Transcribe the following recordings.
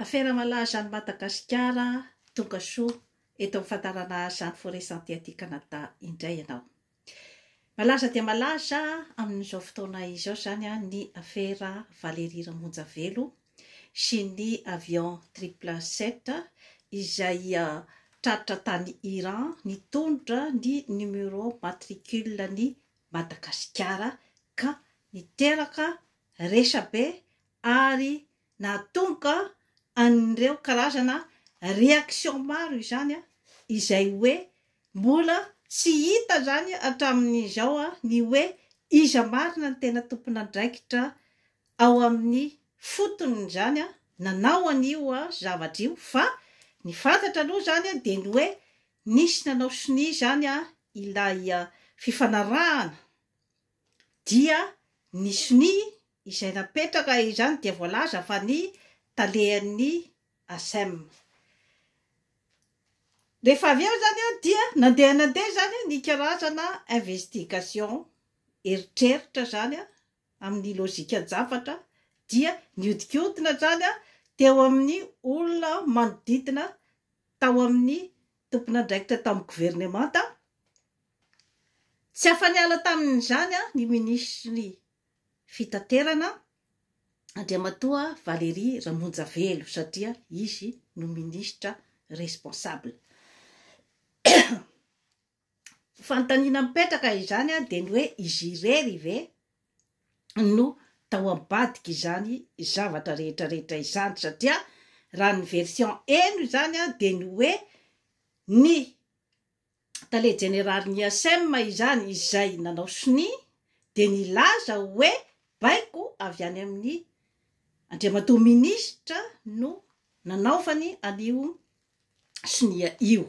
Afera malaza any Madagasikara tonga soa eto amin'ny fandaharana Jeanne Forest Santé aty Canada indray ianao. Malaza dia malaza amin'izao fotoana izao izany ny afera Valérie Ramonjavelo sy ny avion triple sept izay tratra tany Iran nitondra ny numéro matricule-n'i Madagasikara ka niteraka resabe ary nahatonga an'ireo karazana réaction maro izany izay hoe mbola tsy hita izany hatramin'izao ny hoe iza marina ny tena tompon'andraikitra ao amin'ny foton'izany nanao an'io zavatra io fa ny fantatra aloha izany dia ny hoe nisy nanao sonia izany ilay fifanarahana dia ny sonia izay napetraka izany dia voalaza fa ny talehan'ny Acem. Rehefa avy eo izany dia nandeha nandeha izany ny karazana investigation, eritreritra izany amin'ny lojikan-javatra, dia nihodinkodina izany teo amin'ny olona manodidina tao amin'ny tompon'andraikitra tao amin'ny governemanta, Tsy afa-niala tamin'izany ny minisitry ny Fitaterana, Andriamatoa Valery Ramonjavelo, satria izy no minisitra responsable. Fanontaniana mipetraka izany dia ny hoe izy irery ve no tao ambadik'izany zavatra rehetrarehetra izany, satria raha ny version heno izany dia ny hoe ny tale jeneralin'ny IASM izany izay nanao sonia dia nilaza hoe baiko avy any amin'ny Andriamatoa Minisitra no nanaovany an'io sonia io.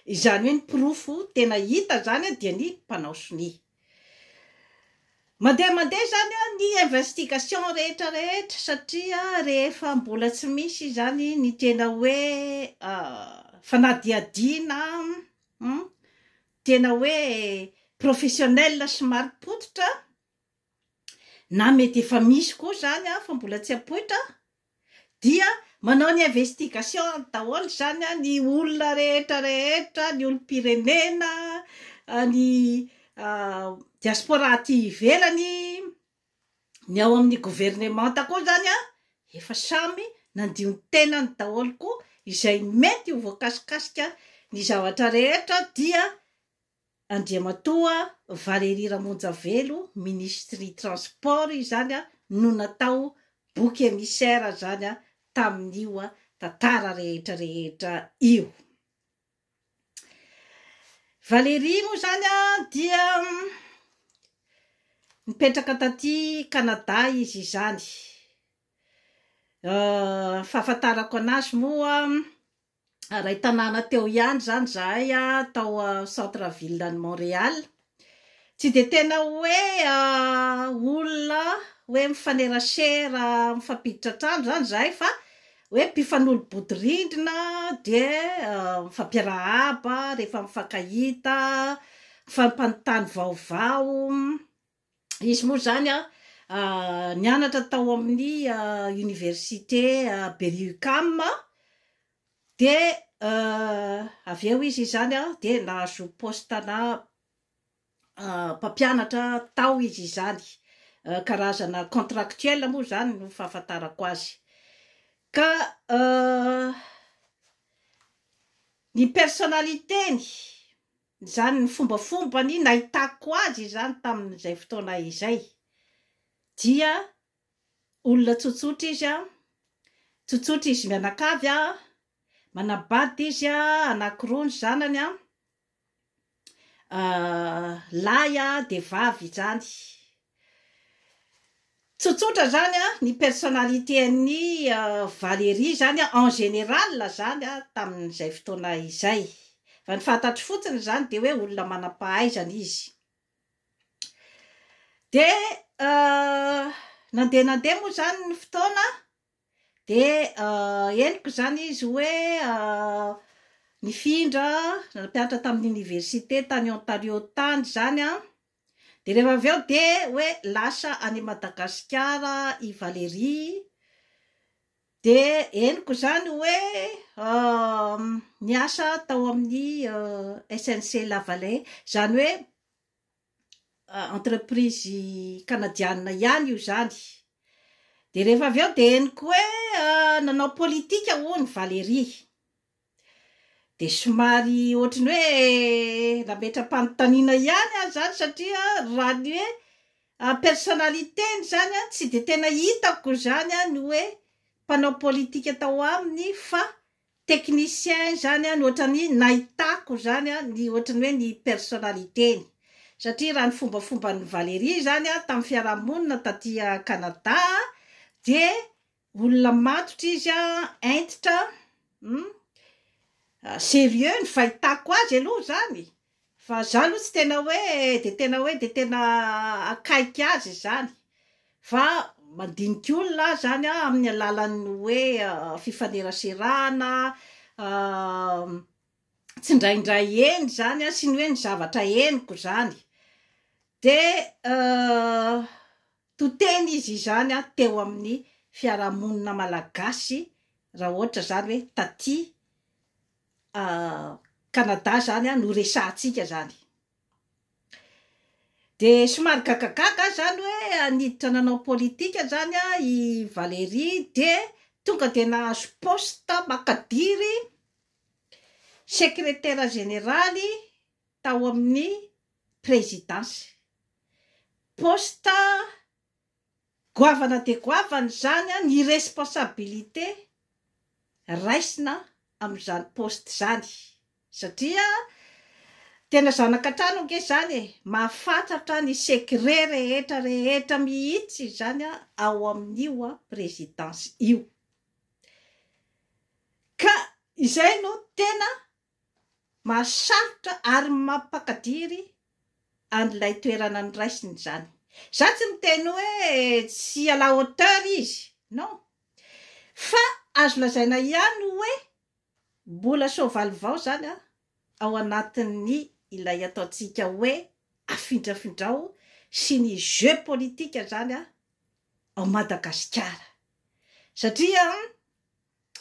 Izany hoe ny porofo tena hita izany dia ny mpanao sonia. Mandeha mandeha izany ny investigation rehetra rehetra satria rehefa mbola tsy misy izany ny tena hoe fanadihadiana tena hoe professionnel sy marim-pototra na mety efa misy koa izany fa mbola tsy ampoitra Dia manao ny investigations daholo izany ny olona rehetra rehetra, ny olom-pirenena, ny diaspora aty ivelany, ny ao amin'ny governemanta koa izany efa samy nandio ny tenany daholo koa, izay mety ho voakasikasika ny zavatra rehetra dia Andriamatoa Valery Ramonjavelo Ministry Transport izany no natao Bouc Emissaire zany tamin'io tantara rehetra rehetra io. Valery moa zany dia nipetraka taty Canada izy izany. Fahafantarako anazy moa iray tanàna teo ihany izany izahay tao centre ville any Montréal. Tsy dia tena hoe olona hoe mifanerasera mifampiditra trano izany izahay fa hoe mpifanolo-bodirindrina dia mifampiarahaba rehefa mifankahita, mifampanontany vaovao. Izy moa izany nianatra tao amin'ny oniversite Berry-UQAM, dia avy eo izy izany dia nahazo paositana mpampianatra tao izy izany, karazana contractuel moa izany no fahafantarako azy. Ka ny personnalité-ny. Izany ny fombafombany nahitako azy izany tamin'izay fotoana izay. Dia olona tsotsotra izy an, tsotsotra izy mianakavy an, manabady izy an, anankiroa ny zanany an, lahy dia vavy izany. Tsotsotra zany an, ny personnalité an'i Valérie zany an en général zany an tamin'izay fotoana izay. Fa ny fantatro fotsiny zany dia hoe olona manam-pahaizana izy. Dia nandeha nandeha moa zany ny fotoana an, dia henoko zany izy hoe nifindra nampianatra tamin'ny université tany Ontario tany zany an. Dia rehefa avy eo dia hoe lasa any Madagasikara i Valérie, dia henoko izany hoe niasa tao amin'ny SNC Lavalais, izany hoe entreprise kanadianina ihany io izany. Dia rehefa avy eo dia henoko hoe nanao politika hono Valérie. Dia somary ohatry ny hoe nametra-panontaniana ihany aho izany satria raha ny hoe en personnalité-ny izany tsy dia tena hitako izany ny hoe mpanao politika tao aminy fa technicien izany no ohatry ny nahitako izany ny ohatry ny hoe ny personnalité-ny. Satria raha ny fombafomban'i Valérie izany tamin'ny fiarahamonina taty Canada dia Olona matotra izy a, hentitra hum, serieux ny fahitako azy aloha zany, fa za aloha tsy tena hoe de tena hoe de tena akaiky azy izany, fa mandinika olona aho zany a amin'ny alalan'ny hoe fifaneraserana a, tsindraindray heno zany a, sy ny hoe ny zavatra henoko zany, de. To teny izy izany an teo amin'ny fiarahamonina malagasy raha ohatra izany hoe taty a Canada izany an no resahantsika izany de somary gagagaga aho izany hoe haniditra nanao politika izany an i Valerie de tonga de nahazo poste makadiry secretaire generaly tao amin'ny prezidansy. Poste goavana dia goavana izany, ny responsabilité raisina amin'izany poste izany satria tena zanaka trano ange izany e! Mahafantatra ny secret rehetra rehetra mihitsy izany ao amin'io prezidansy io ka izay no tena Mahasarotra ary mampakadiry an'ilay toerana noraisiny izany. Izaho tsy miteny hoe tsy à la hauteur izy, non. Fa azo lazaina ihany hoe mbola soavaly vao izany ao anatin'ny ilay ataontsika hoe afindrafindrao sy ny jeu politique izany ao Madagasikara. Satria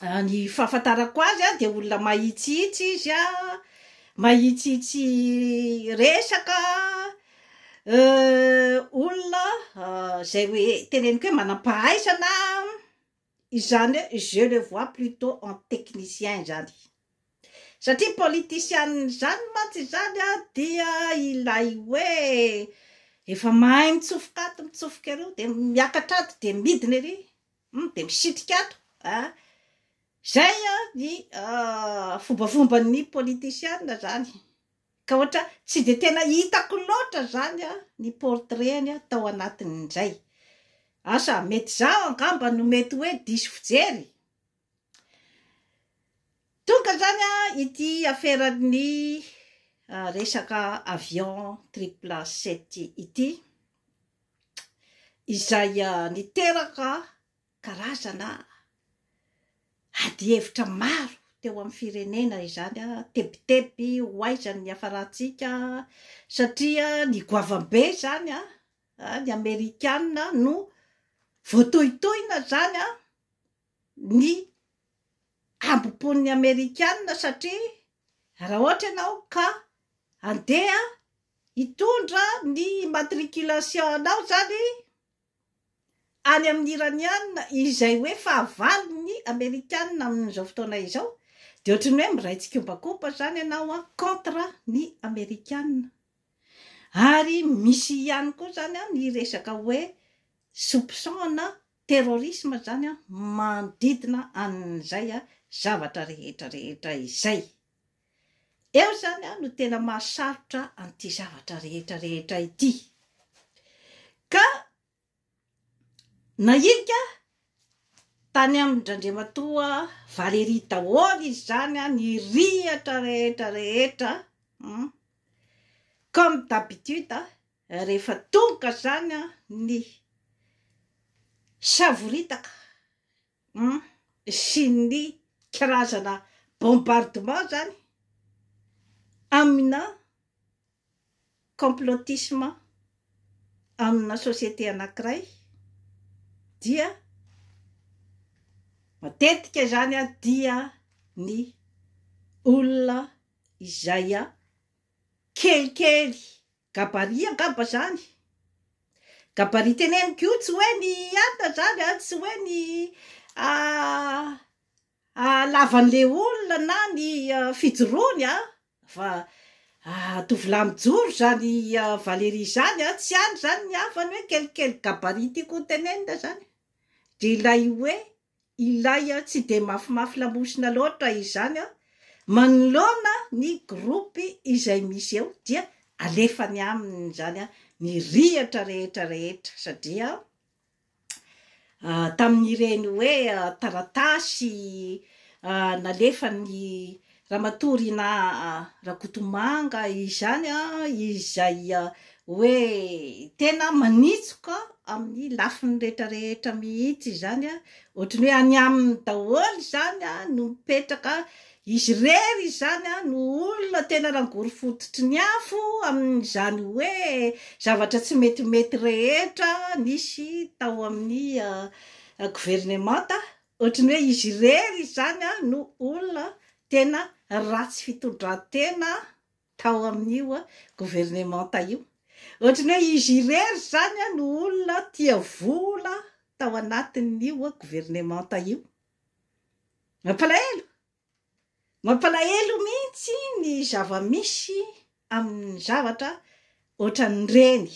Raha ny fahafantarako azy a, dia olona mahitsihitsy izy a, mahitsihitsy resaka, olona zay hoe teneniko hoe manam-pahaizana, izany hoe je le vois plutot en technicien izany, satria politician zany mantsy izany a dia ilay hoe efa mahay mitsofoka ato mitsofoka eroa dia miakatra ato dia midina ery. Hum dia misitrika ato a! Zay a ny fombafomban'ny politisiana zany ka ohatra tsy dia tena hitako loatra zany a ny portrait-ny a tao anatin'izay asa mety zaho angamba no mety hoe diso fijery tonga zany a ity aferan'ny resaka avion triple sept ity izay niteraka karazana adihevitra maro teo amin'ny firenena izany, tebiteby ho aiza ny hiafarantsika satria ny goavam-be izany ny amerikana no voatohitohina izany. ny hambom-pon'ny Amerikana satria raha ohatra ianao ka handeha hitondra ny immatriculation anao izany any amin'ny Iraniana izay hoe fahavalon'ny Amerikana amin'izao fotoana izao dia ohatry ny hoe miray tsikombakomba izany ianao an, contre ny Amerikana. Ary misy ihany koa izany an ny resaka hoe soupçon na terrorisme zany manodidina an'izay zavatra rehetra rehetra izay. Eo zany no tena mahasalotra an'ity zavatra rehetra rehetra ity. Ka nahilika tany amin-dRandriamatoa Valéry daholo izy zany ny rihatra rehetra rehetra comme d'habitude Rehefa tonga izany an, ny savoritaka an, sy ny karazana bombardement izany amina complotisme amina société anankiray dia matetika izany an, dia ny olona izay an kelikely Gabarit angamba zany. Gabarit teneniko io tsy hoe ny hiata zany an, tsy hoe ny ah halavan le olona na ny fijoroany an, fa ah tovolahy mijoro zany Valerie zany an, tsy any zany ny havany hoe quel quel gabarit tiako ho tenenina zany, de ilay hoe Ilay tsy dia mafimafy lamosina loatra izany manoloana ny gropy izay misy eo dia alefany aminy izany ny rihatra rehetra rehetra satria tamin'ireny hoe taratasy nalefan'ny Ramatoa Rinah Rakotomanga izany izay hoe tena manitsoka amin'ny lafiny rehetra rehetra mihitsy izany, ohatran'ny hoe any aminy daholo izany no mipetraka, izy irery izany no olona tena rangory fototry ny afo amin'izany hoe zavatra tsy metimety rehetra nisy tao amin'ny governemanta Ohatry ny hoe izy irery izany no olona tena ratsy fitondran-tena tao amin'io governemanta io. Ohatry ny hoe izy irery izany no olona tia vola tao anatin'io governemanta io. Mampalahelo! Mampalahelo mihitsy ny zava-misy amin'ny zavatra ohatran'ireny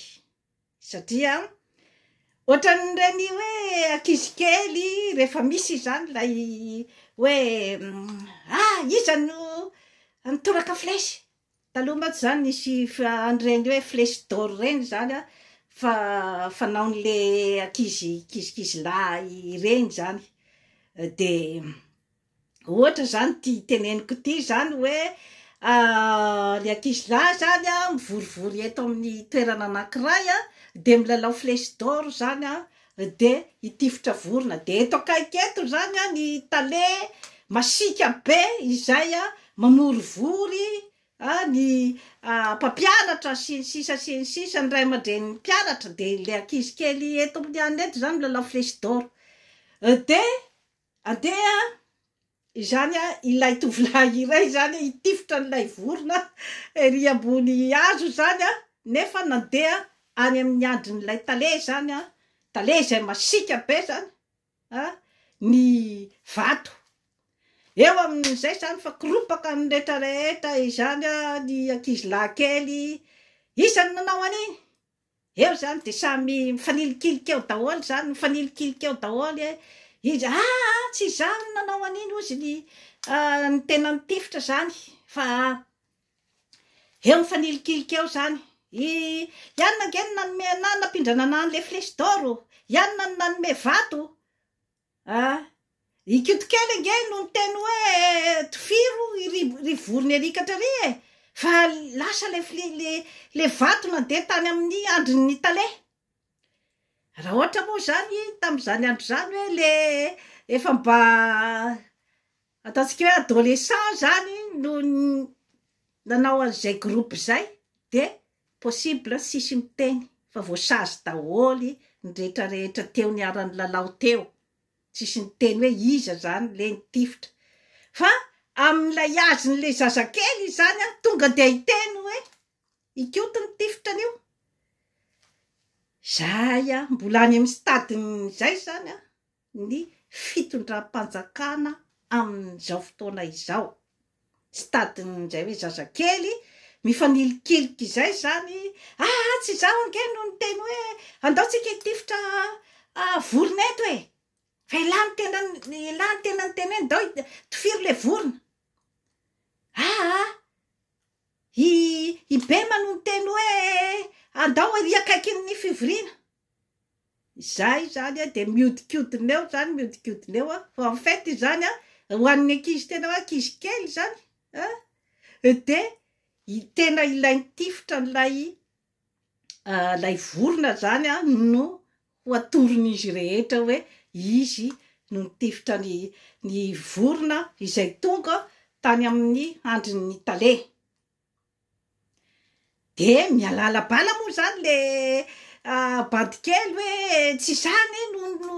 satria ohatran'ireny hoe ankizy kely rehefa misy izany ilay hoe a! iza no nitoraka flèche? taloha mantsy izany nisy an'ireny hoe flèche d'or ireny izany an, fa fanaon'le ankizy kizikizilahy ireny izany dia Ohatra zany ity teneniko ity zany hoe le ankizy lahy zany a mivorivory eto amin'ny toerana anankiray a de milalao flèche d'or zany a de hitifitra vorona de eto akaiky eto zany a ny tale masiaka be izay a mamorivory a ny mpampianatra sy ny sisa sy ny sisa ny ray aman-drenin'ny mpianatra de le ankizy kely eto amin'ny anona eto zany milalao flèche d'or de Andeha izany an, ilay tovolahy iray izany hitifitra an'ilay vorona ery ambony hazo izany an, nefa nandeha any amin'ny andrin'ilay tale izany an, tale izay masiaka be izany an, ny vato eo amin'izay izany fa koropaka ny rehetra rehetra izany an, ny ankizilahy kely, iza no nanao an'iny? Eo izany dia samy mifanilikilika eo daholo izany, mifanilikilika eo daholo e, izy ah ah ah tsy izaho no nanao an'iny hozy ny ny tena nitifitra izany fa eo mifanilikilika eo izany, i Yann ange no nanome anah nampindrana anah an'ilay flèche d'or, Yann no nanome vato, Ah! I Koto kely ange no niteny hoe tofiro ry ry vorona erikatra ry e! fa lasa le fly le le vato nandeha tany amin'ny andrin'ny tale! raha ohatra moa izany tamin'izany andro izany hoe le efa mba Ataontsika hoe adolescent zany no nanao an'izay groupe izay de possible tsisy miteny fa voasazy daholo ny rehetra rehetra teo niara-nilalao teo, tsisy niteny hoe iza zany le nitifitra fa amin'ilay azon'le zazakely izany an tonga dia hiteny hoe i Koto nitifitra an'io, zay an mbola any amin'ny stade-ny zay zany an. ny fitondram-panjakana amin'izao fotoana izao. Stade-n'izay hoe zazakely mifanilikilikka izay izany, ah! Tsy izaho ange no niteny hoe andao tsika hitifitra vorona eto e! Fa ialahy no tena ialahy no tena niteny hoe ndao tifiro ilay vorona. Aa! I i Bema no niteny hoe andao ery akaikin'ny fivoriana. Izaho izany a dia mihodinkodina eo izany mihodinkodina eo aho fa en fait izany a ho an'ny ankizy tena hoe ankizy kely izany a dia tena ilay nitifitra an'ilay ilay vorona izany a no ho atoron'izy rehetra hoe izy no nitifitra ny ny vorona izay tonga tany amin'ny handrin'ny tale. Dia mihalala bala moa izany le bandy kely hoe tsy izaho anie no no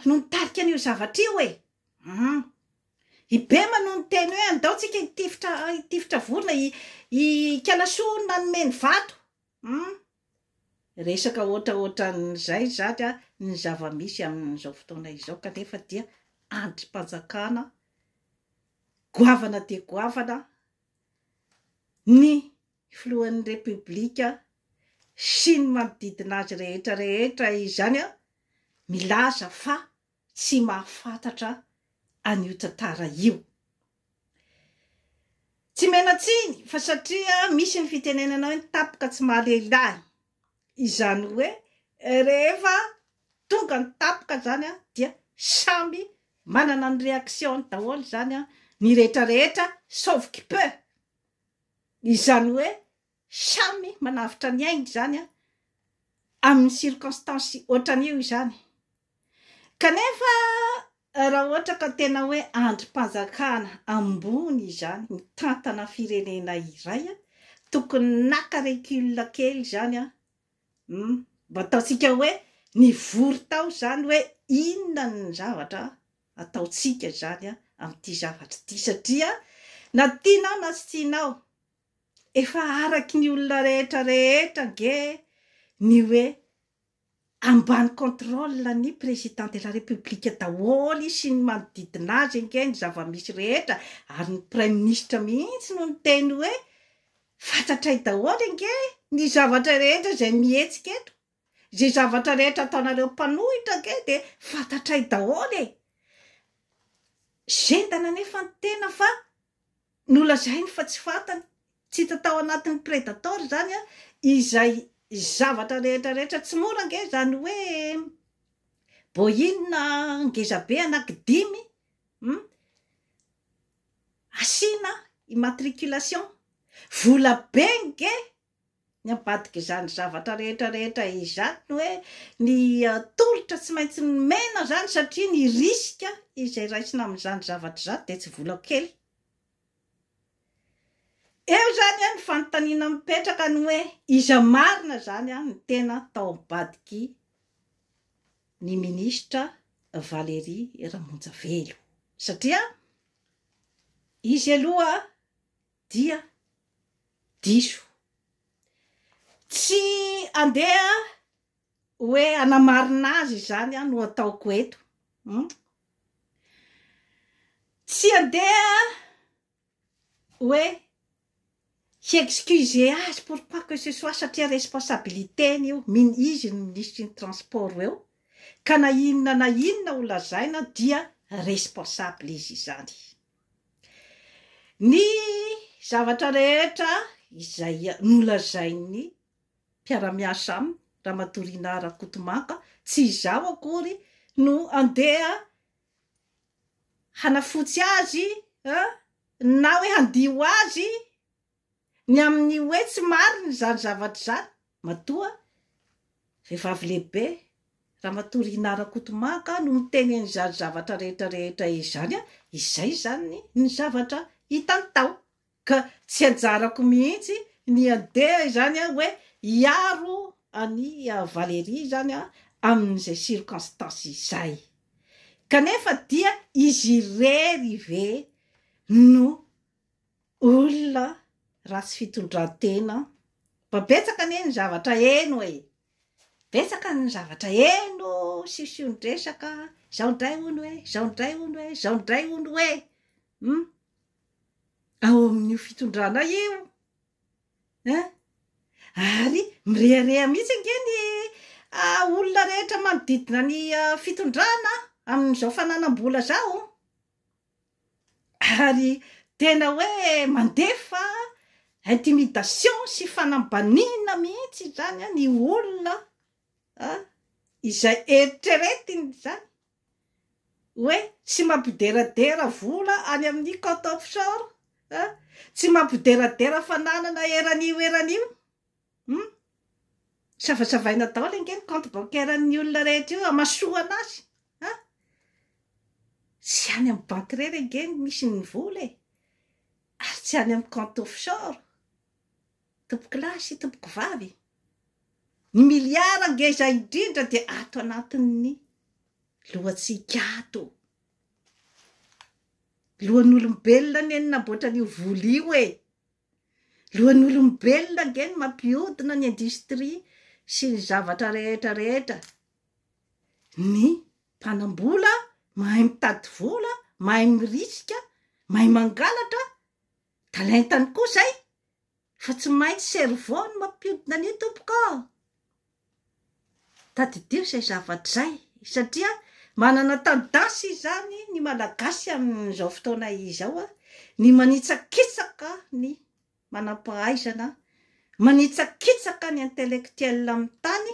no nitarika an'io zavatra io e! Hum. Ibema no niteny hoe andao tsika hitifitra hitifitra vorona, i Ikalasoa no nanome ny vato. Hum. Resaka ohatraohatran'izay izany ny zava-misy amin'izao fotoana izao kanefa dia andrim-panjakana Goavana dia goavana ny filohan'ny Repoblika sy ny manodidina azy rehetra rehetra izany milaza fa tsy mahafantatra an'io tantara io. Tsy menan-tsiny fa satria misy ny fitenenana hoe ny tampoka tsy mahalehilahy. Izany hoe rehefa tonga ny tapoka izany an, dia samy manana ny reaction-ny daholo izany an, ny rehetra rehetra sauf qui peut. Izany hoe samy manavotra ny ainy izany an, amin'ny circonstance ohatran'io izany. Kanefa Raha ohatra ka tena hoe andrim-panjakana ambony izany mitantana firenena iray a, tokony naka recul kely izany a, hum, mba ataontsika hoe nivory tao izany hoe inona ny zavatra ataontsika izany a, amin'ity zavatra ity, satria na tianao na tsy tianao, efa araky ny olona rehetra rehetra ange ny hoe Ambany contrôle ny président de la république daholo izy sy ny manodidina azy ange ny zava-misy rehetra ary ny praiminisitra mihitsy no niteny hoe fantatray daholo ange ny zavatra rehetra izay mihetsika eto, izay zavatra rehetra ataonareo mpanohitra ange dia fantatray daholo e! Zendana anefa ny tena fa Nolazainy fa tsy fantany, tsy hita tao anatin'ny Predator izany izay zavatra rehetra rehetra. Tsy mora ange izany hoe Boeing ngezabe anaky dimy hum asiana immatriculation. Vola be nge Ny ambadik'izany zavatra rehetra rehetra izany ny hoe ny tolotra tsy maintsy nomena izany satria ny risque izay raisina amin'izany zavatra izany dia tsy vola kely. Eo izany an ny fanontaniana mipetraka ny hoe iza marina izany an ny tena tao ambadiky ny ministra Valery Ramonjavelo satria izy aloha dia diso. Tsy andeha hoe hanamarina azy izany aho no ataoko eto. Hum? Tsy andeha hoe hi-excuser azy pour quoi que ce soit satria responsabilité-ny io, min- izy ny minisitry ny transport eo, ka na inona na inona ho lazaina dia responsable izy izany. Ny zavatra rehetra izay nolazain'ny mpiara-miasa aminy, Ramatoa Rinah Rakotomanga, tsy izaho akory no andeha hanafotsy azy na hoe handio azy Ny amin'ny hoe tsy marina izany zavatra izany, matoa vehivavy lehibe, Ramatoa Rinah Rakotomanga no miteny an'izany zavatra rehetra rehetra izany, izay izany ny zavatra hitany tao, ka tsy anjarako mihitsy ny handeha izany hoe hiaro an'i Valérie izany amin'izay circonstances izay. Kanefa dia izy irery ve no. Olona ratsy fitondratena an! Mba betsaka anie ny zavatra heno e! Betsaka ny zavatra heno sision-dresaka, izao indray hono hoe, izao indray hono hoe, izao indray hono hoe! Hum! Ao amin'io fitondrana io an! Ary mirehareha mihitsy ange ny olona rehetra manodidina ny fitondrana an! Amin'izao fananam-bola izao! ary tena hoe mandefa intimidation sy fanambaniana mihitsy izany ny olona an, izay eritreretiny izany hoe tsy mampideradera vola any amin'ny compte offshore an, tsy mampideradera fananana eran'io eran'io. Hum. Savasavaina daholo ange ny compte bancaire ny olona rehetra io hamasoana azy an! Tsy any amin'ny banky irery ange no misy ny vola e! Ary tsy any amin'ny compte offshore! Tompoko lahy sy tompoko vavy e! Ny milliards ngeza indrindra dia ato anatin'ny lohantsika ato! Lohan'olombelona anie no namboatra an'io vola io e! Lohan'olombelona ange no mampiodina ny industrie sy ny zavatra rehetra rehetra. Ny mpanambola mahay mitady vola, mahay mirisika, mahay mangalatra, talentany koa zay, fa tsy maintsy cerveau no mampiodina an'io tompoko a! Tadidio izay zavatra izay satria manana tendance izany ny Malagasy amin'izao fotoana izao ny manitsakitsaka ny manam-pahaizana, manitsakitsaka ny intellectuel amin'ny tany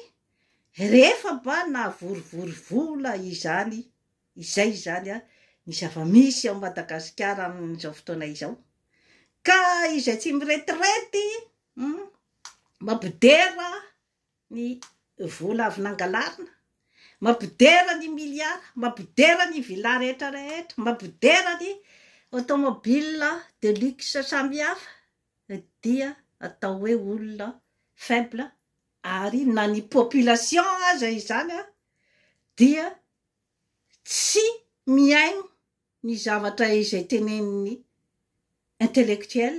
rehefa mba nahavorovoro vola izany, izay izany ny zava-misy ao Madagasikara amin'izao fotoana izao ka izay tsy miretirety hum. Mampidera ny vola avy nangalarina, mampidera ny milliards, mampidera ny villa rehetra rehetra, mampidera ny automobile de luxe samihafa dia atao hoe olona faible ary na ny population aza izany dia tsy mihaino ny zavatra izay tenenin'ny intellectuel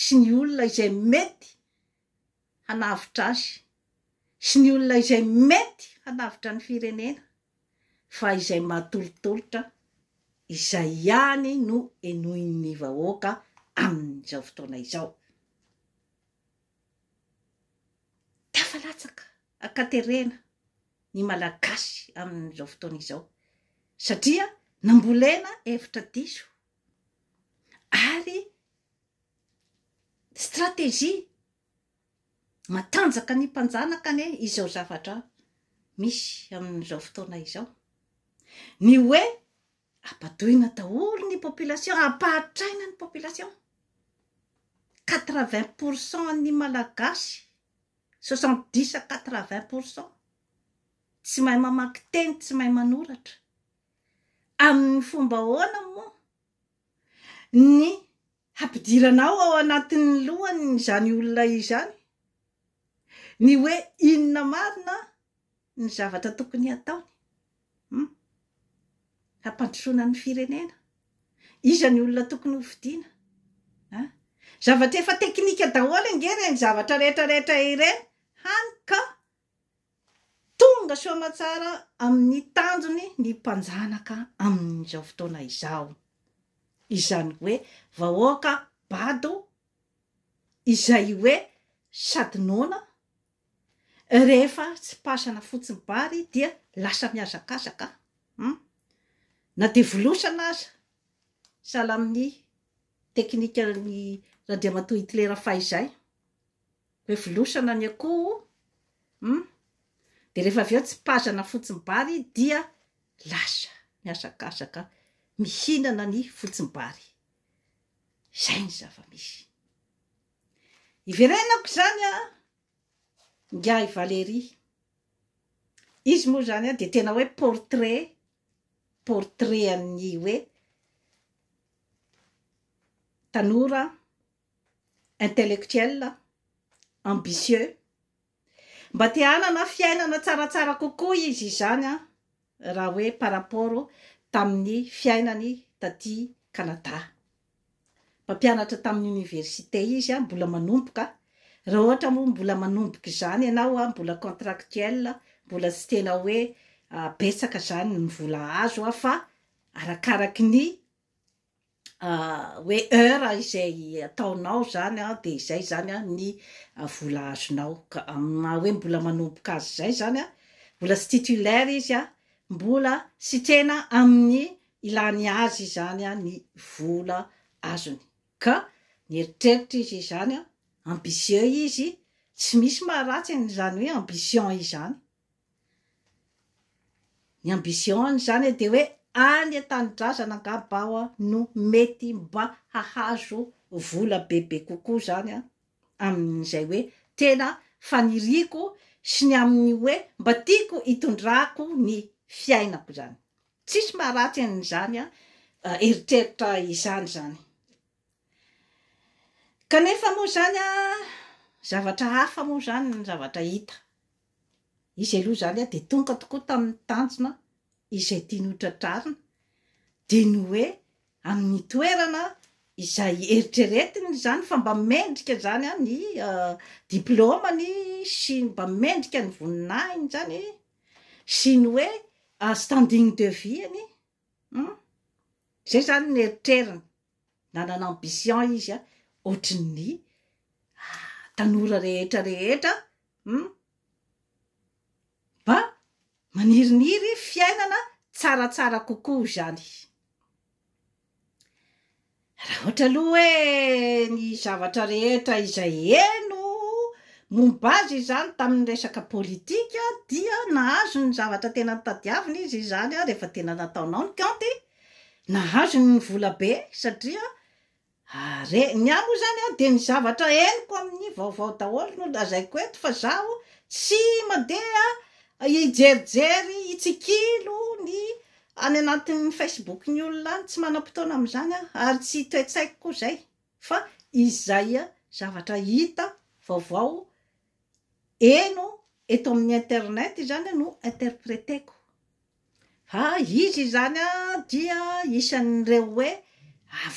sy ny olona izay mety hanavotra azy sy ny olona izay mety hanavotra ny firenena fa izay mahatolotolotra izay ihany no henoin'ny vahoaka amin'izao fotoana izao. Tafalatsaka ankaterena ny Malagasy amin'izao fotoana izao satria nambolena hevitra diso ary stratégie matanjaka ny mpanjanaka anie izao zavatra misy amin'izao fotoana izao, ny hoe ampadoina daholo ny population, ampahatraina ny population, quatre vingt pour cent ny malagasy, soixante dix à quatre vingt pour cent tsy mahay mamaky teny, tsy mahay manoratra. Amin'ny fomba ahoana moa ny hampidiranao ao anatin'ny lohany izany olona izany ny hoe inona marina ny zavatra tokony hataony? Hum? Hampandrosoana ny firenena? Iza ny olona tokony ho fidiana? An? Zavatra efa teknika daholo ange ireny zavatra rehetra rehetra ireny hany ka Tonga soa aman-tsara amin'ny tanjony ny mpanjanaka amin'izao fotoana izao. Izany hoe vahoaka bado izay hoe sady noana, rehefa tsy pasana fotsiny bary dia lasa mihazakazaka an! Na dia volosana aza, sahala amin'ny teknikan'i Randriamatoa Hitler fahizay. Hoe volosana ny akoho hum dia rehefa avy eo tsipazana fotsim-bary dia lasa mihazakazaka mihinana ny fotsim-bary. Izay ny zava-misy. Iverenako izany an! Ingahy Valéry. Izy moa izany an dia tena hoe portrait, portrait an'ny hoe tanora intellectuel, ambitieux, mba te hanana fiainana tsaratsara kokoa izy izany raha hoe par rapport tamin'ny fiainany taty Canada. Mpampianatra tamin'ny université izy, mbola manomboka, raha ohatra moa mbola manomboka izany ianao, mbola contractuel, mbola tsy tena hoe betsaka izany ny vola azo fa arakaraky ny hoe heure izay ataonao izany dia izay izany ny vola azonao ka amin'ny maha hoe mbola manomboka azy izay izany mbola tsy titulaire izy mbola sitrena amin'ny ilany azy izany ny vola azony ka nieritreritra izy izany ambitieux izy tsy misy maharatsy an'izany hoe ambition izany Ny ambition izany dia hoe any an-tanindrazana angamba aho no mety mba hahazo vola bebe kokoa izany amin'izay hoe tena faniriako sy ny amin'ny hoe mba tiako hitondrako ny fiainako izany. Tsisy maharatsy an'izany eritreritra izany izany. Kanefa moa izany zavatra hafa moa izany ny zavatra hita. Izy aloha izany dia tonga tokoa tamin'ny tanjona izay tiany hotratrarina, dia ny hoe amin'ny toerana izay eritreretiny izany fa mba mendrika izany ny diplaomany sy mba mendrika ny voninahiny izany sy ny hoe standing de vie-ny Hum? Zay zany ny eritreriny, nanana ambition izy a, ohatry ny tanora rehetra rehetra hum? Mba maniriniry fiainana tsaratsara kokoa izany. Raha ohatra aloha hoe ny zavatra rehetra izay heno momba azy izany tamin'ny resaka politika dia nahazo ny zavatra tena nitadiaviny izy izany rehefa tena nataonao ny kaonty, nahazo ny vola be satria re, ny ahy moa izany an dia ny zavatra henoko amin'ny vaovao daholo no lazaiko eto fa zaho tsy mandeha hijerijery hitsikilo ny Any anatin'ny Facebook ny olona any, tsy manam-potoana amin'izany aho ary tsy toe-tsaiko koa izay fa izay zavatra hita vaovao heno eto amin'ny internet izany no interpreteko. Fa izy izany dia isan'ireo hoe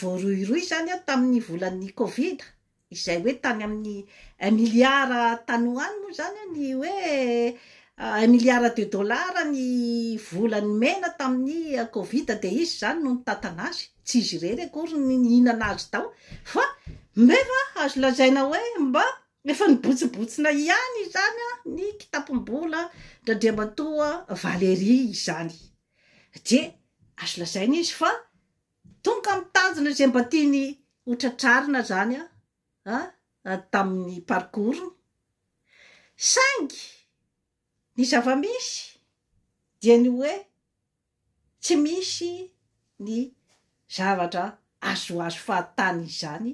voarohirohy izany tamin'ny volan'ny covid. izay hoe tany amin'ny un milliard tany ho any moa izany ny hoe un milliard de dollars ny vola nomena tamin'ny covid dia izy izany no nitantana azy, tsy izy irery akory ny nihinana azy tao fa nefa azo lazaina hoe mba efa nibotsinbotsina ihany izany ny kitapom-bolan-dRandriamatoa Valéry izany dia azo lazaina izy fa Tonga amin'ny tanjona izay mba tiany ho tratrarina izany tamin'ny parcours-ny. Saingy ny zava-misy dia ny hoe tsy misy ny zavatra azoazo fahatany izany,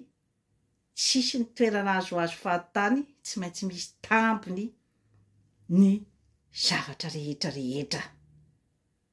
tsisy ny toerana azoazo fahatany, tsy maintsy misy tambiny ny zavatra rehetra rehetra.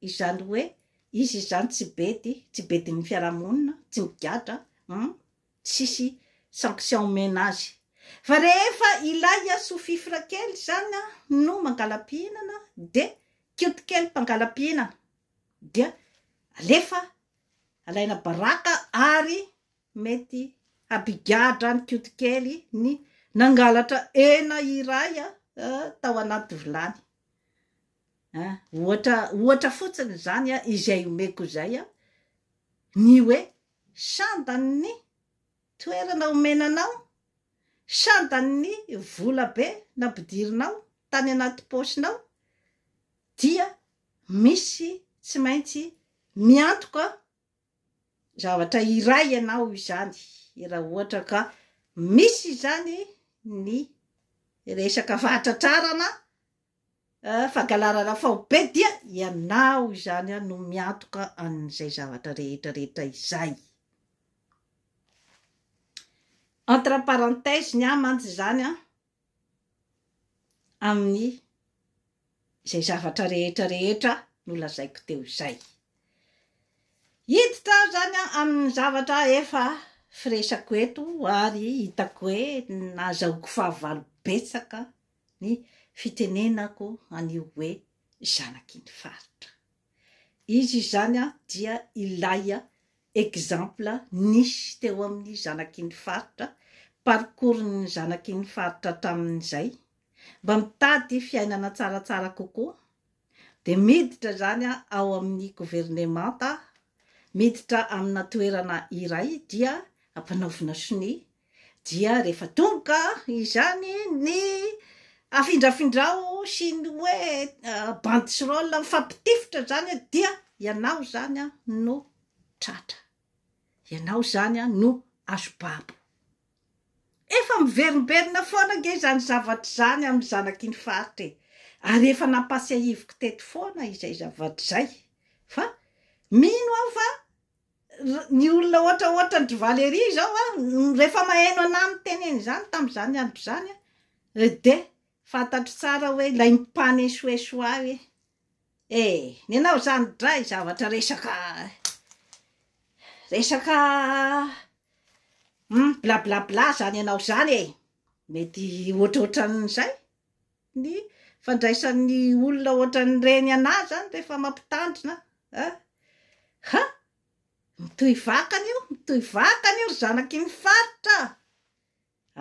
Izany hoe izy izany tsy bedy, tsy bedin'ny fiarahamonina, tsy migadra, hum, tsisy sanction omena azy. Fa rehefa ilay sous-fifre kely izany no mangala-pihinana dia kioty kely mpangala-pihinana dia alefa alaina baraka ary mety hampigadra any kioty kely ny nangalatra hena iray tao anaty vilany. Ohatra ohatra fotsiny izany izay omeko izay ny hoe sandan'ny toerana omena anao, sandan'ny vola be nampidirinao tany anaty paosinao dia misy tsy maintsy miantoka zavatra iray ianao izany raha ohatra ka misy izany ny resaka fahatratrarana fagalarana faobe dia ianao izany no miantoka an'izay zavatra rehetra rehetra izay. Entre parenthèses ny ahy mantsy izany an, amin'ny izay zavatra rehetra rehetra nolazaiko teo izay. Hiditra aho izany an amin'ny zavatra efa firesako eto ary hitako hoe nahazahoako fahavalo betsaka ny fitenenako an'io hoe zanaky ny faritra. Izy izany dia ilay exemple nisy teo amin'ny zanaky ny faritra, parcours ny zanaky ny faritra hatramin'izay, mba mitady fiainana tsaratsara kokoa, dia miditra izany ao amin'ny governemanta, miditra amina toerana iray dia ampanaovina sonia Dia rehefa tonga izany ny afindrafindrao sy ny hoe banderole mifampitifitra izany dia ianao izany no tratra, ianao izany no azo babo. Efa miverimberina foana ange izany zavatra izany amin'ny zanaky ny faritra e! Ary efa nampahatsiahiviko teto foana izay zavatra izay fa mino aho fa ny olona ohatra ohatra an-dry Valerie izao an, rehefa maheno anà mitenena izany tamin'izany andro izany an, dia fantatro tsara hoe ilay mpanesoeso ahy hoe eh ny anao izany dray zavatra resaka resaka blablabla izany ianao izany e, mety ohatrohatran'izay. ny fandraisan'ny olona ohatran'ireny anà izany rehefa mampitandrina a! Ha! mitohy vakana io, mitohy vakana io ry zanaky ny faritra a!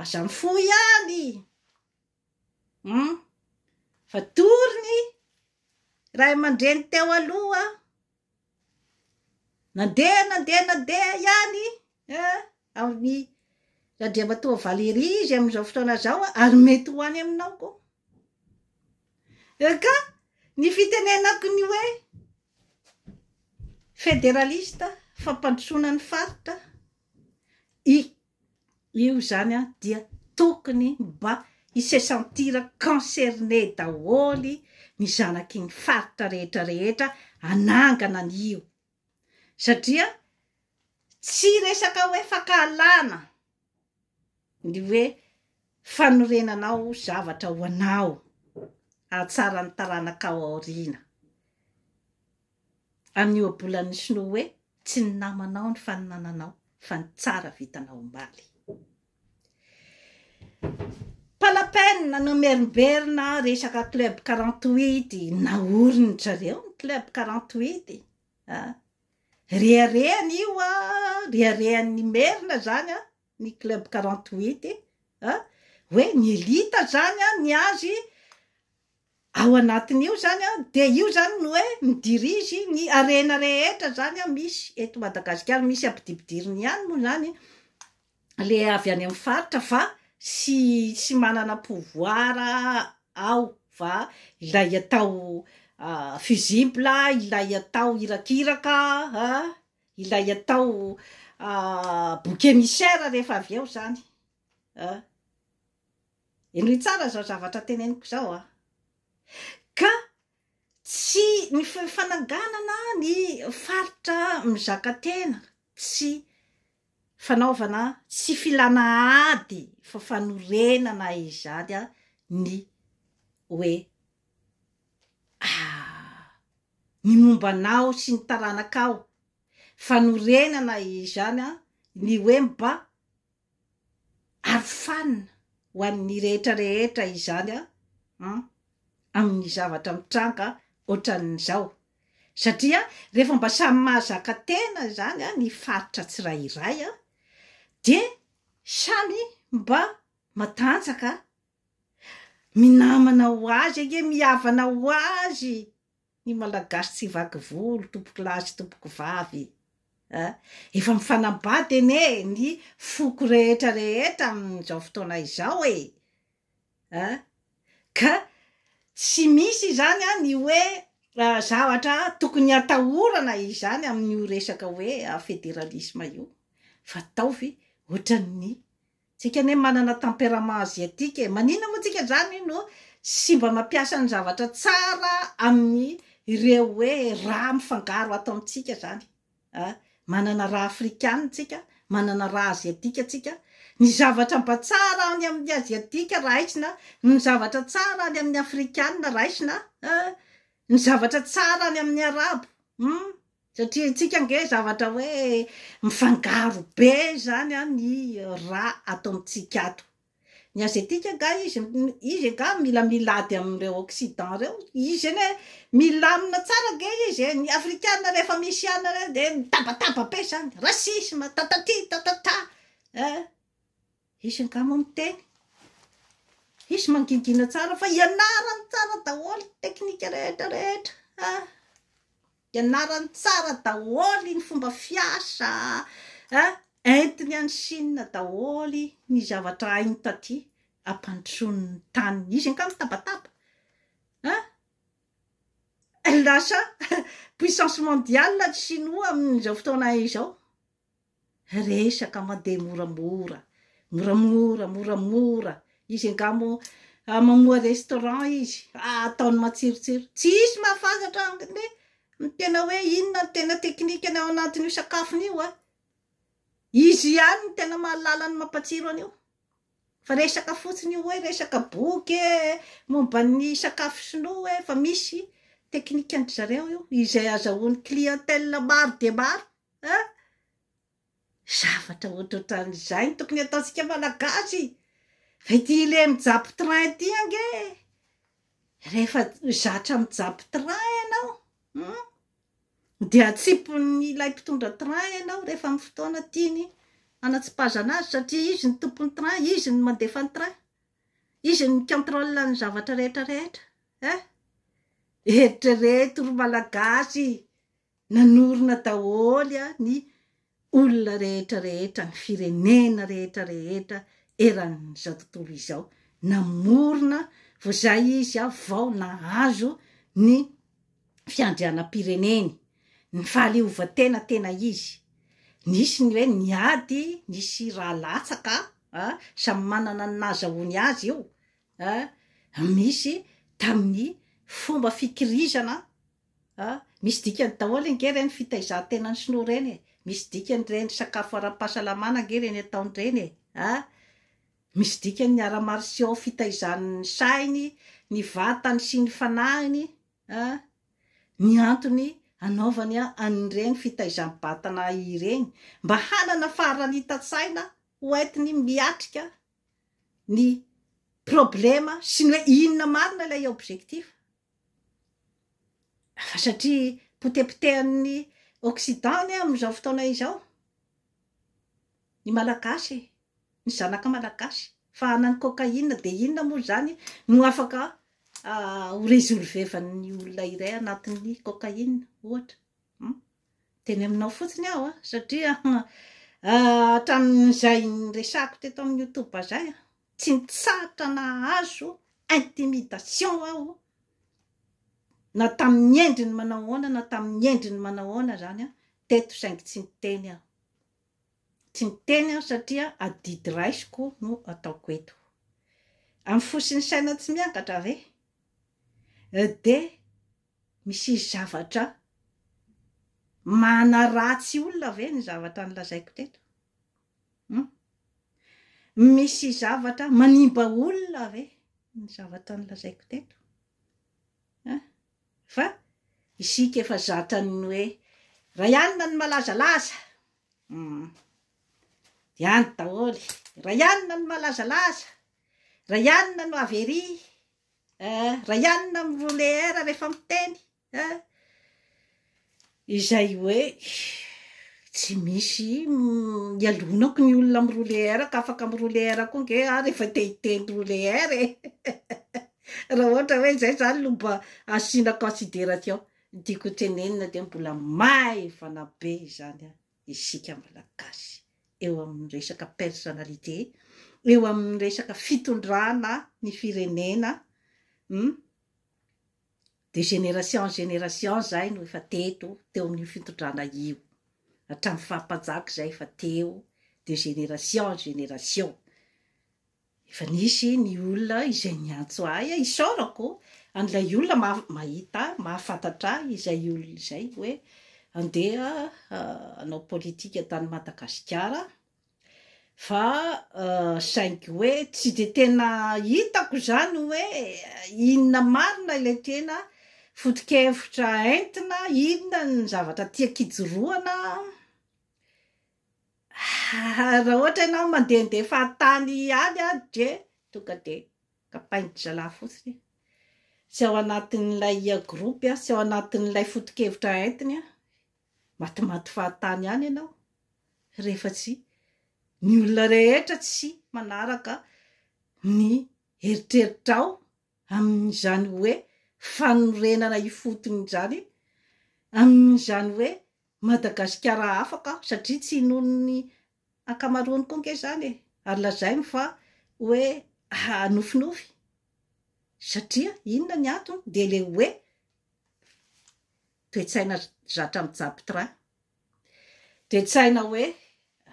aza mifoha ihany hum! fa tory ny ray aman-dreny teo aloha. Nandeha nandeha nandeha ihany amin'ny Randriamatoa Valéry izy amin'izao fotoana izao ary mety ho any aminao koa. Ka ny fitenenako ny hoe federalista fampandrosoana ny faritra i io izany an dia tokony mba hi se sentir concerné daholo ny zanaky ny faritra rehetra rehetra hanangana an io satria tsy resaka hoe fankahalana ny hoe fanorenanao zavatra ho anao hahatsara ny taranaka ao aoriana. amin'ny ohabolan'ny sinoa hoe tsy ny namanao ny faninananao fa ny tsara vitanao omaly. Pas la peine nanao merimberina resaka club quarante huit naoriny zareo ny club quarante huit a! reharehany io a! reharehan'ny merina zany a! ny club quarante huit a, hoe ny elite izany an, ny azy ao anatin'io zany an, dia io zany no hoe mi dirige ny harena rehetra zany an misy eto Madagasikara, misy ampidipidiriny ihany moa zany le avy any amin'ny faritra fa tsy tsy manana pouvoir ao fa ilay atao fusible, ilay atao irakiraka an, ilay atao bouc émissaire rehefa avy eo zany a henoy tsara zao zavatra teneniko zao a ka tsy ny fananganana ny faritra mizaka tena tsy fanaovana tsy filana ady fa fanorenana izany a ny hoe ah ny momba anao sy ny taranakao, fanorenana izany ny hoe mba arofanina ho an'ny rehetra rehetra izany an, amin'ny zavatra mitranga ohatran'izao, satria rehefa mba samy mahazaka tena izany ny faritra tsirairay dia samy mba matanjaka Minamana ho azy ange mihavana ho azy ny malagasy tsy vaky volo tompoko lahy sy tompoko vavy a! Efa mifanambady anie ny foko rehetra rehetra amin'izao fotoana izao e! a! Ka tsy misy izany a ny hoe zavatra tokony hatahorana izany amin'io resaka hoe federalisme io fa ataovy ohatran'ny Tsika anie manana tempérament asiatique e! Maninona moa tsika zany no tsy mba mampiasa ny zavatra tsara amin'ny ireo hoe rà mifangaro ato amintsika zany a! Manana rà afrikana tsika, manana rà asiatika tsika, ny zavatra mba tsara any amin'ny asiatika raisina, ny zavatra tsara any amin'ny afrikana raisina a! Ny zavatra tsara any amin'ny arabo hum! Satria antsika ange zavatra hoe mifangaro be izany an ny ra ato amintsika ato. Ny azetika angaha izy izy angaha mila milady amin'ireo occident ireo? Izy anie milamina tsara ange izy e! Ny afrikana rehefa misy an ireo dia mitabataba be izany, racisme, tataty, tatata eh! Hisy angamba miteny, hisy mangingina tsara fa ianarany tsara daholo ny teknika rehetra rehetra a! Ianarany tsara daholo ny fomba fiasa a! Entiny any Chine daholo ny zavatra hainy taty hampandrosoany ny taniny. Izy angaha mitabataba a! Lasa puissance mondiale ny Shinoa amin'izao fotoana izao. Resaka mandeha moramora, moramora, moramora. Izy angaha moa mamoha restaurant izy, ataony matsirotsiro. Tsy hisy mahafantatra ny ny tena hoe inona ny tena teknikany ao anatin'io sakafony io an! Izy ihany no tena mahalala ny mampatsiro an'io. Fa resaka fotsiny io hoe resaka boky e, momba ny sakafo sinoa e, fa misy teknikan-dry zareo io izay azahoan'ny clientèle maro dia maro. a! zavatra ohatrohatran'izay no tokony ataontsika malagasy fa ity ilay mijapy train ity ange e! rehefa zatra mijapy train ianao hum de atsipin'ilay mpitondra train ianao rehefa amin'ny fotoana tiany hanatsipazana azy satria izy no tompon'ny train, izy no mandefa ny train, izy no mi-controle ny zavatra rehetra rehetra eh! eritrereto ry malagasy Nanorina daholo ny olona rehetra rehetra, ny firenena rehetra rehetra eran'izao tontolo izao. Namorona vao zay izy vao nahazo ny fiandrianam-pireneny. Ny fahaleovantena tena izy. Nisy ny hoe ny ady, nisy raha latsaka a, samy manana ny nahazahoany azy io a, misy tamin'ny fomba fikirizana A, Misy dikany daholo ange ireny fitaizan-tenan'ny sinoa ireny e! Misy dikany ireny sakafo ara-pahasalamana ange ireny ataony ireny e! A, Misy dikany ny arts martiaux fitaizany ny sainy, ny vatany sy ny fanahiny a! Ny antony anaovany an'ireny fitaizam-batana ireny mba hanana faharanitan-tsaina ho entiny miatrika ny problema sy ny hoe inona marina ilay objectif Fa satria potepotehan'ny occident anie amin'izao fotoana izao ny malagasy e! Ny zanaka malagasy. Fa hanany cocaïne dia inona moa izany no afaka ho resolvevan'ny olona iray anatin'ny cocaïne ohatra? Hum? Teny aminao fotsiny aho satria hatramin'izay niresahako teto amin'ny youtube izay. Tsy nitsahatra nahazo intimidation aho na tamin'ny endriny manao ahoana na tamin'ny endriny manao ahoana izany teto saingy tsy niteny aho. Tsy niteny aho satria adidy raisiko no ataoko eto. Amin'ny fo sy ny saina tsy miangatra ve? Dia misy zavatra manaratsy olona ve ny zavatra nolazaiko teto? Hum. Misy zavatra manimba olona ve ny zavatra nolazaiko teto? An? Fa isika efa zatan'ny hoe Ray anona ny malazalaza. Hum. Dia any daholo. Ray anona ny malazalaza. Ray anona no avery. Eh, Ray anona miroleer rehefa miteny. Haa izay hoe tsy misy ialonako ny olona mi-rouler ka afaka mi-rouler koa nge aho rehefa te hiteny rouler e! raha ohatra hoe izay izany no mba asiana consideration ny tiako ho tenenina dia mbola maivana be izany an! isika malagasy eo amin'ny resaka personnalité, eo amin'ny resaka fitondrana ny firenena, hum de génération en génération zay no efa teto teo amin'io fintondrana io hatramin'ny faha mpanjaka zay efa teo de génération en génération efa nisy ny olona izay niantso ahy a isaorako an'ilay olona maha mahita ahy mahafantatra ahy izay olona izay hoe andeha hanao politika tany Madagasikara fa saingy hoe tsy dia tena hitako izany hoe inona marina ilay tena foto-kevitra entina, inona ny zavatra tiako ijoroana raha ohatra ianao mandehandeha fahatany ihany an, dia tonga dia kapain-dry zalahy fotsiny e, tsy ao anatin'ilay groupe, tsy ao anatin'ilay foto-kevitra entiny an. Matimaty fahatany ihany ianao rehefa tsy ny olona rehetra tsy manaraka ny eritreritrao amin'izany hoe fanorenana ifotony izany, amin'izany hoe Madagasikara afaka aho satria tsy inoan'ny ankamaroany koa ange izany e! ary lazainy fa hoe nofinofy satria inona ny antony dia ilay hoe toe-tsaina zatra mijapitra toe-tsaina hoe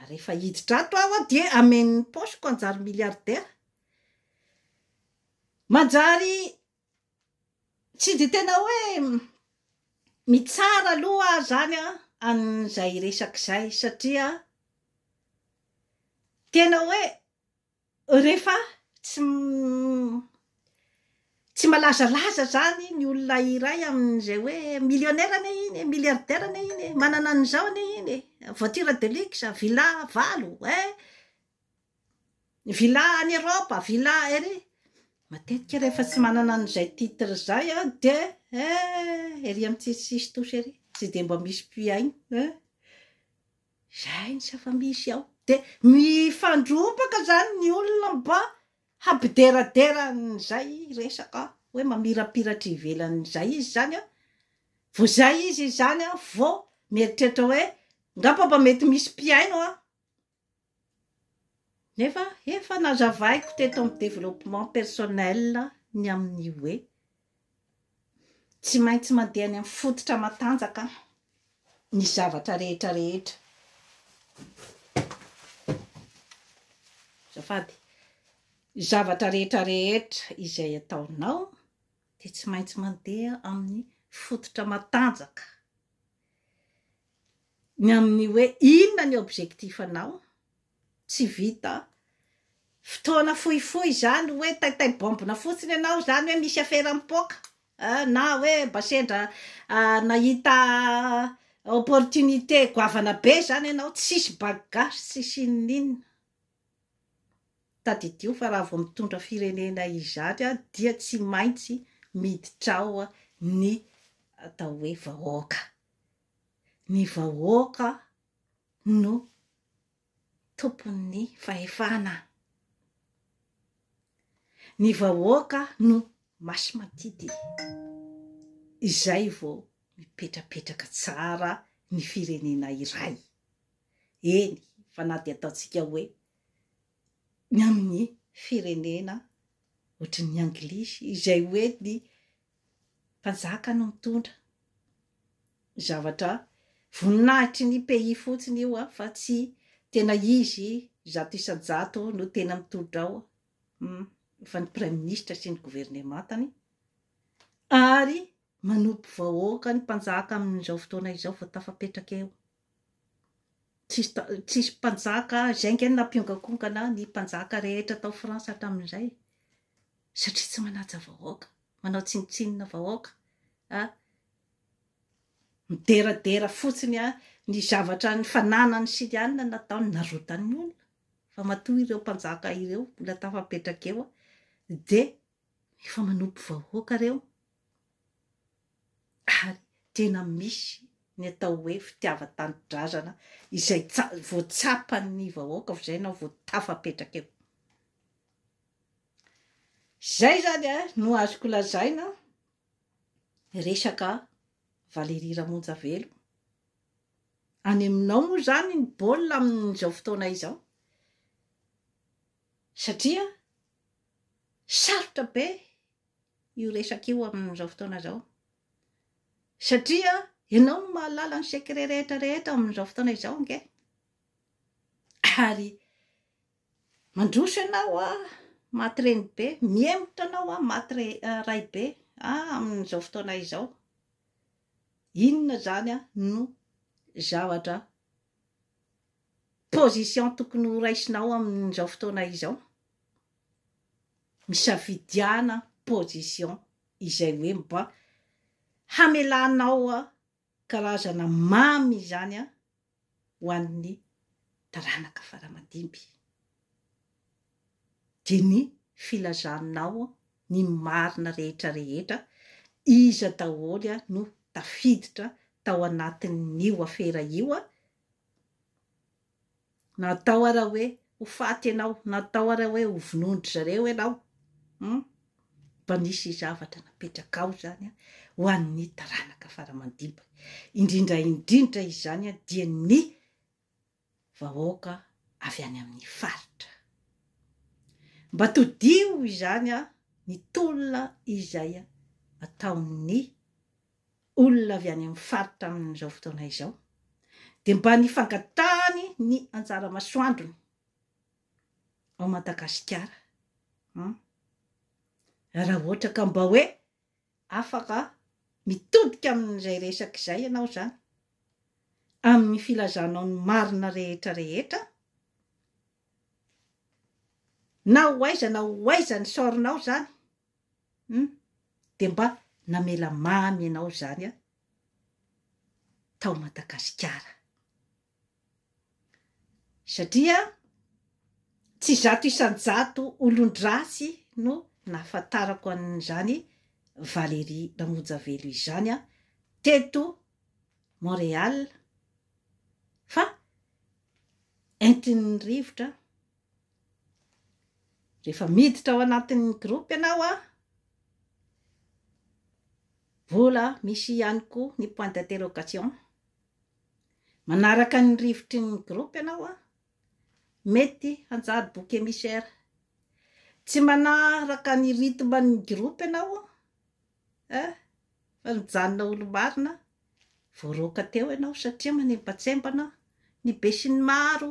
rehefa hiditra ato aho a dia amen'ny paosiko hanjary milliardaire manjary tsy dia tena hoe mitsara aloha aho zany a an'izay resaka izay satria tena hoe Rehefa tsy tsy malazalaza izany ny olona iray amin'izay hoe millionnaire anie iny e, milliardaire anie iny e, manana an'izao anie iny e, voiture de luxe, villa valo eh, villa any Europe, villa ery, matetika rehefa tsy manana an'izay titre izay an dia eh, ery amin'ny tsisy sisy tosy ery, tsy dia mba misy mpihaino eh. Izay ny zava-misy ao. Dia mifandrombaka izany ny olona mba hampideradera an'izay resaka hoe mamirapiratra ivelan'izay izy izany an! Vao izay izy izany an, vao mieritreritra hoe angamba mba mety misy mpihaino an! Nefa efa nazavaiko teto amin'ny développement personnel ny amin'ny hoe. Tsy maintsy mandeha any amin'ny fototra matanjaka ny zavatra rehetra rehetra. Azafady. Ny zavatra rehetra rehetra izay ataonao dia tsy maintsy mandeha amin'ny fototra matanjaka. Ny amin'ny hoe inona ny objectif-nao, Tsy vita. Fotoana fohifohy izany hoe taitay baombina fotsiny ianao izany hoe misy afera mipoaka an, na hoe mba sendra nahita opportunité goavana be izany ianao, tsisy bagage tsisy inoninona. Tadidio fa raha vao mitondra firenena izany an, dia tsy maintsy miditra ao ny atao hoe vahoaka. Ny vahoaka no tompon'ny fahefana. Ny vahoaka no masimantidy. Izay vao mipetrapetraka tsara ny firenena iray. Eny fa na dia ataontsika hoe ny amin'ny firenena ohatry ny anglisy izay hoe ny Mpanjaka no mitondra ny zavatra voninahitry ny pays fotsiny io a fa tsy tena izy zato isan-jato no tena mitondra ao hum fa ny praiminisitra sy ny governemantany ary manompo vahoaka ny mpanjaka amin'izao fotoana izao vao tafapetraka eo Tsisy ta- tsisy mpanjaka, izay ange no nampiongakongana ny mpanjaka rehetra tao France hatramin'izay, satria tsy manaja vahoaka, manao tsinontsinona vahoaka, a, mideradera fotsiny a, ny zavatra ny fananany sy ny anona nataony narotany ny olona, fa matoa ireo mpanjaka ireo mbola tafapetraka eo a, dia Efa manopy vahoaka reo ary tena misy ny atao hoe fitiava tanindrazana izay vao tsapan'ny vahoaka vizay nao vao tafapetraka eo. Zay zany eh, no azoko lazaina resaka Valerie Ramonjavelo. Any aminao moa zany ny baolina amin'izao fotoana izao. Satria sarotra be io resaka io amin'izao fotoana izao. Satria ianao no mahalala ny secret rehetra rehetra amin'izao fotoana izao ange. Ary mandroso ianao a, maty reny be, mihemotra anao a, maty ray be amin'izao fotoana izao. Inona izany no zavatra position tokony ho raisinao amin'izao fotoana izao? misafidiana position izay hoe mba hamelanao karazana mamy izany ho an'ny taranaka faramandimby dia ny filazanao ny marina rehetra rehetra iza daholo no tafiditra tao anatin'io afera io Natao ara hoe ho faty ianao, natao ara hoe ho vonoin-dry zareo ianao, hum, mba nisy zavatra napetrakao izany ho an'ny taranaka fara aman-dimby, indrindra indrindra izany dia ny vahoaka avy any amin'ny faritra. Mba todiho izany ny tolona izay ataon'ny olona avy any amin'ny faritra amin'izao fotoana izao dia mba ny fangatahany ny anjara masoandrony ao Madagasikara an! raha ohatra ka mba hoe afaka mitodika amin'izay resaka izay ianao izany amin'ny filazanao ny marina rehetra rehetra na ho aiza na ho aiza ny sort-nao izany Hum dia mba namela mamy ianao izany aho tao Madagasikara. Satria tsy zato isan-jato olon-dratsy no nahafantarako an'izany Valérie Ramonjavelo izany aho teto Montréal fa entin'ny rivotra Rehefa miditra ao anatin'ny groupe ianao a, mbola misy ihany koa ny point d'interrogation. Manaraka ny rivotry ny groupe ianao a, mety hanjary bouc émissaire. Tsy manaraka ny rythme ny groupe ianao a, fa nijanona olo-marina, voaroaka teo ianao satria manembatsembana ny besinimaro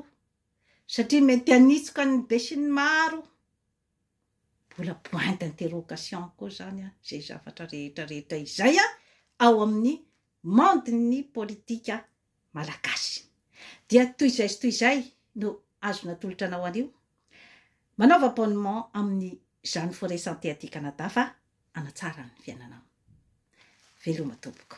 satria mety hanitsoka ny besinimaro mbola point d'interrogation koa izany izay zavatra rehetra rehetra izay ao amin'ny monde-n'ny politika malagasy. Dia toy izay sy toy izay no azo natolotra anao anio. Manaova abonnement amin'ny Jeanne Forêt Santé aty Canada fa hanatsara ny fiainanao. Veloma tompoko.